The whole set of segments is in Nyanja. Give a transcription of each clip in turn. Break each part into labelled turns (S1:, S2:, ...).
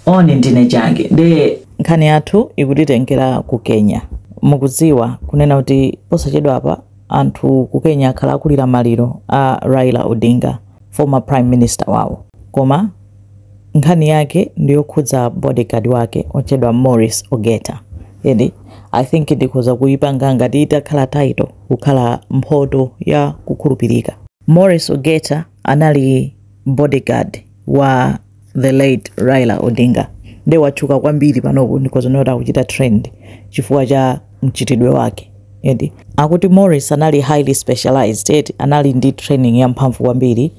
S1: oni ndine change nde nkhani yathu ikutitengera ku kenya mukudziwa kunena kuti posachedwapa anthu ku kenya akhala akulira maliro a raila odinga former prime minister wawo koma nkhani yake ndiyokhudza bodyguard wake otchedwa morris ogeta and i think ndikhoza kuyipanga ngati itakhala title kukhala mphoto ya kukhulupirika morris ogeta anali bodyguard wa the late Raila Odinga nde watchuka kwambiri panopo ndikhoza kunena kuti akuchita trend chifukwa cha mchitidwe wake and akuti Morris anali highly specialized eti anali ndi training ya mphamvu kwambiri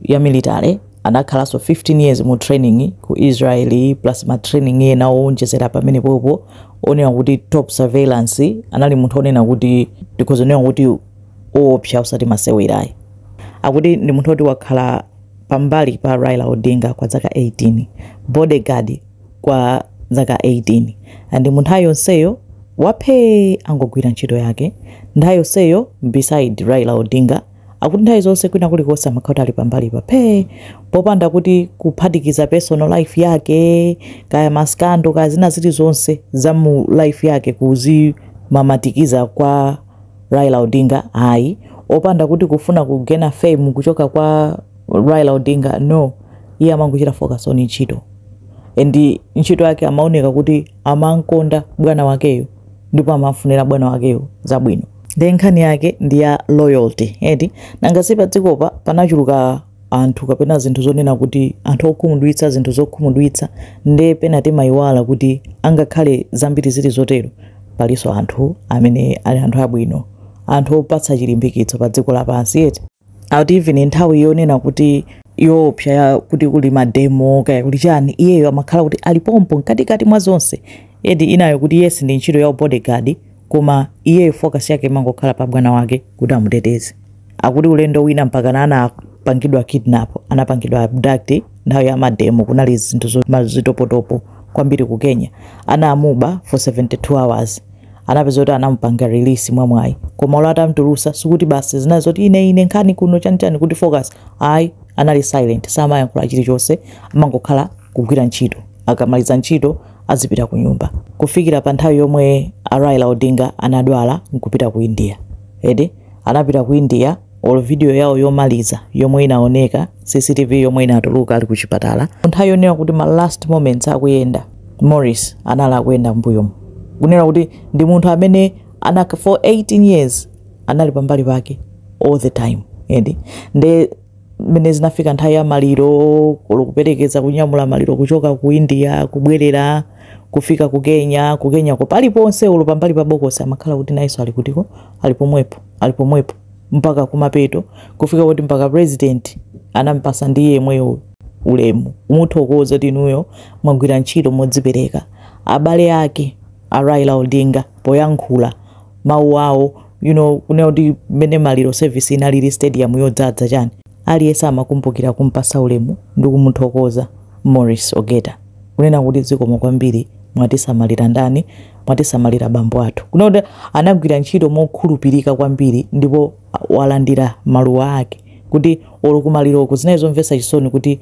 S1: ya military anakhalanso 15 years mu training ku Israel plus ma training ena owonjezera pamenepopo onena kuti top surveillance anali munthu onena kuti ndikhoza kunena kuti owopsa osati masewera ayi. Akuti ndi munthu oti wakhala pambali pa Raila Odinga kwa zaka 18, bodyguard kwa zaka 18 and munthu wake waphee wongogwira ntchito yake nthawi yonseyo beside Raila Odinga akuti nthawi zonse kwina kulikonse amakhala kuti ali pambali pa phee popanda kuti kuphatikiza personal life yake kaya maskando kaya zina zilizonse za mu life yake kuzimamatikiza kwa Raila Odinga ayi opanda kuti kufuna kugena fame kuchoka kwa Raila Odinga no iye amangochita focus on ntchito and ntchito yake amaoneka kuti amankonda bwana wakeyo ndipo amamfunira bwana wakeyo zabwino nde nkhani yake ndi ya loyalty eti nanga si padzikopa panachuluka anthu kapena zinthu zonena kuti anthu okhumudwitsa zinthu zokhumudwitsa nde pena timayiwala kuti angakhale zambiri zili zotero palinso anthu amene ali anthu abwino anthu opatsa chilimbikitso pa dziko lapansi eti akuti even nthawi yonena kuti yoopsa ya kuti kuli mademo kaya kuli chani iyeyo amakhala kuti ali pompo mkatikati mwa zonse eti inayo kuti yes ndi ntchito ya u bodyguard koma iyeyo focus yake imangokhala pa bwana wake kuti amuteteze akuti ulendo wina mpakana anapangidwa kidnap anapangidwa abduct nthawi ya mademo kunali zinthu zo- ma- zitopotopo kwambiri ku kenya anamuba for 72 hours anapeza kuti anamupanga release mwamwayi koma olo atamtulutsa sikuti basi zinali zoti ine ine nkhani kuno chanichani kuti focus ayi anali silent samayankhula chilichonse amangokhala kugwira ntchito akamaliza ntchito azipita kunyumba kufikira pa nthawi yomwe a Raila Odinga anadwala nkupita ku India and anapita ku India olo video yawo yomaliza yomwe inaoneka CCTV yomwe inatuluka ali ku chipatala nthawi yonena kuti ma last moments akuyenda Morris anali akuyenda mbuyomo kunena kuti ndi munthu amene anaka for 18 years anali pambali pake all the time eti nde mmene zinafika nthawi ya maliro ku olo kuperekeza kunyamula maliro kuchoka ku india kubwerera kufika ku kenya ku kenyako paliponse olo pambali pa bokosi amakhala kuti nayenso ali kutiko ali pomwepo ali pomwepo mpaka kumapeto kufika kuti mpaka president anampasa ndi iye yemweyo ulemu kumuthokoza kuti inuyo mwagwira ntchito modzipereka abale ake a raila odinga poyankhula mawu awo you know kunena kuti mmene maliro service inalili stadium yodzadza chani aliyense amakumbukira kumpasa ulemu ndi kumuthokoza Maurice Ogeta kunena kuti zikomo kwambiri mwatisamalira ndani mwatisamalira bambo athu kunena kuti anagwira ntchito mokhulupirika kwambiri ndipo walandira maluwa ake kuti olo kumaliroko zinali zomvetsa chisoni kuti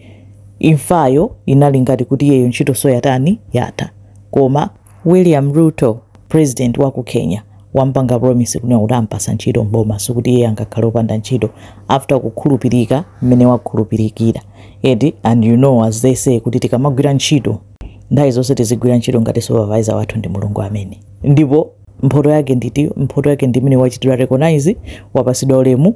S1: imfayo inali ngati kuti iyeyo ntchito so yatani yatha koma William Ruto president wa ku Kenya wampanga promise kunena kuti ampasa ntchito m'boma sikuti iye angakhale opanda ntchito after kukhulupirika mmene wakhulupirikira eti and you know as they say kuti tikamagwira ntchito nthawi zonse tizigwira ntchito ngati supervisor wathu ndi mulungu amene ndipo mphoto yake nditi mphoto yake ndi imene wachitidwa recognize wapasidwa ulemu